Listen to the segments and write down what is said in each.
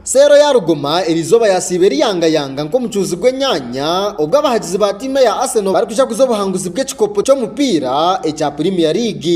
Seero ya Ruguma eri izooba yaasiiba eriyangayanga nk'omucuuzi gw'enyaanya obwo abahagizi ba tiimu eya Arsenal barikushakuza obuhanguzi bw'ekikopo ky'omupiira ekya Premier League.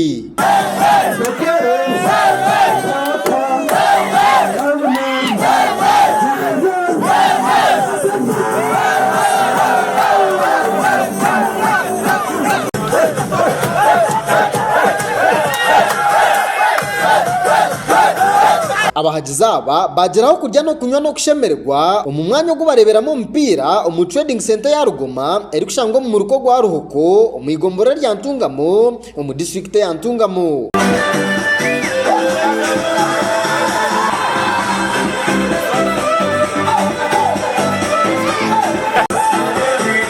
Abahagizi aba baagiraho kurya n'okunywa n'okushemererwa omu mwanya ogu bareeberamu omupiira omu Trading Centre ya Rugoma erikushangwa omu muruka ogwa Ruhoko omu igomborora erya Ntungamo omu disiturikiti eya Ntungamo.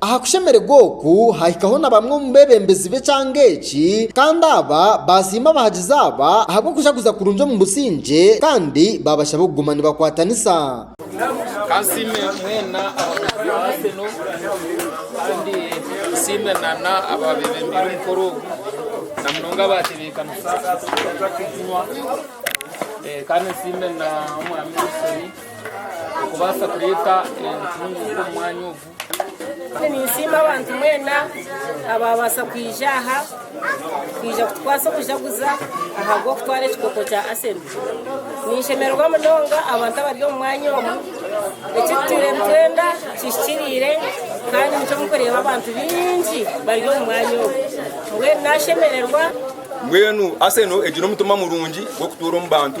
Aha kushemererwa oku haahikaho na bamwe omu beebembezi b'ekyanga eki, kandi aba baasiima abahagizi aba ahabw'okujaguza kurungi omu busingye kandi baabashaba okuguma nibakwatanisa. Kansiime mwena abakozi ba Arsenal kandi nsiime n'abaabebembeire omukoro ogu na munonga abaatebeekanisa eki kinywa kandi nsiime n'omwami Wilson. okubaasa kureeta entunguuka omu mwanya ogu. Ninsiima abantu mwena abaabaasa kwija aha kwija kutukwasa okujaguza ahabw'okutwara ekikopo kya Arsenal. Ninshemererwa munonga abantu abari omu mwanya omu. Eki tutaire nitwenda kihikiriire kandi nikyo murikureeba abantu baingi bari omu mwanya omu. Mbwenu naashemererwa. Mbwenu Arsenal egire omutima murungi gw'okutuura omu bantu.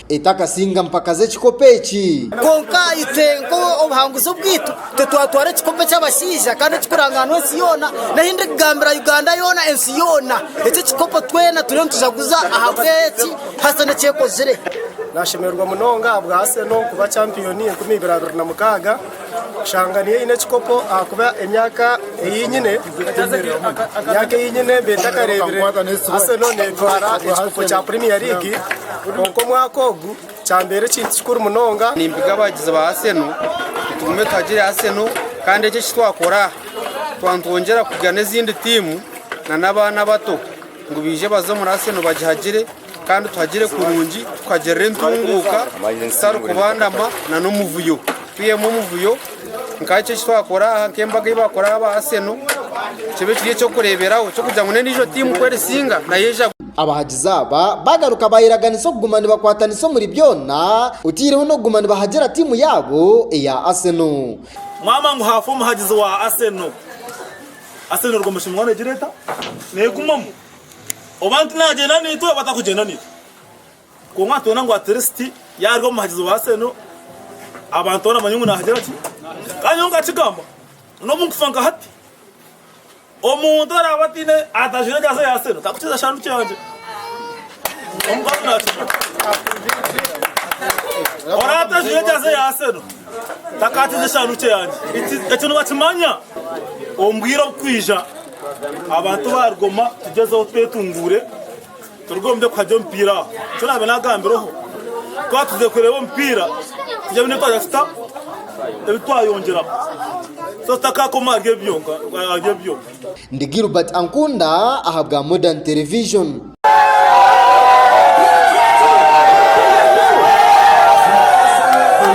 Etakasinga mpaka z'ekikopo eki. Kwonka itwe nk'obuhanguzi obwaitu titwatwara ekikopo eky'abashaija kandi ekikurangaanwa ensi yoona nari ndi kugambira Uganda yoona ensi yoona. Eki ekikopo twena turiyo nitujaguza ahabw'eki Hassan eki ekozire. Naashemererwa munonga ahabwa Arsenal kuba champiyoni enkumi ibiri abiri na mukaaga. Kushanga niyo eine ekikopo ahakuba emyaka ei nyine emyaka ei nyine mbaire ntakareebire Arsenal netwara ekikopo kya Premier League kwonka omwaka ogu kyambeera ekintu kikuru munonga. Nimpiga abagizi ba Arsenal tugume tuhagire Arsenal kandi eki eki twakora twaba nitwongyera kugira n'ezindi tiimu n'abaana abato ngu baije baze omuri Arsenal bagihagire. Kandi tuhagire kurungi tukagirira entunguuka zitarikubandama nana omuvuyo. Twihemu omuvuyo nka eki eki twakora aha nk'embaga ei baakora aha ba Arsenal, kibe kiri eky'okureeberaho eky'okugira ngu n'endiijo tiimu ku erisinga nayo eija. Abahagizi aba baagaruka baayeraganisa okuguma nibakwatanisa omuri byona, otaireho n'okuguma nibahagira tiimu yaabo eya Arsenal. Maama ngu haafa omuhagizi wa Arsenal, Arsenal erwo omushumwa negireta negumamu. Oba ntinagyenda naitwe oba atakugyenda naitwe. Kwonka nitwenda ngu atirisiti yaarya omuhagizi wa Arsenal abantu boona bamanye ngu naagira ki? Kandi nyowe nkakigamba n'obu nkufa nka hati, omuntu araabe ataine atajwaire ejaasi ya Arsenal tarikukiza kishaaru kyangye. Omukazi naakijwara. Oraabe otajwaire ejaasi ya Arsenal takaakiza eshaaru kyangye. Ekyo nibakimanya omu bwire oburikwija. Abantu ba Rugoma tugyezeho twetunguure turuge omu by'okuha gye omupiira aha nikyo naabe naagambireho. Twaba twije kureeba omupiira twine ebi twaza kuta ebi twayongyeraho so tutakaakoma ahari ebyo byonka. Ndi Gilbert Ankunda ahabwa Modern Television.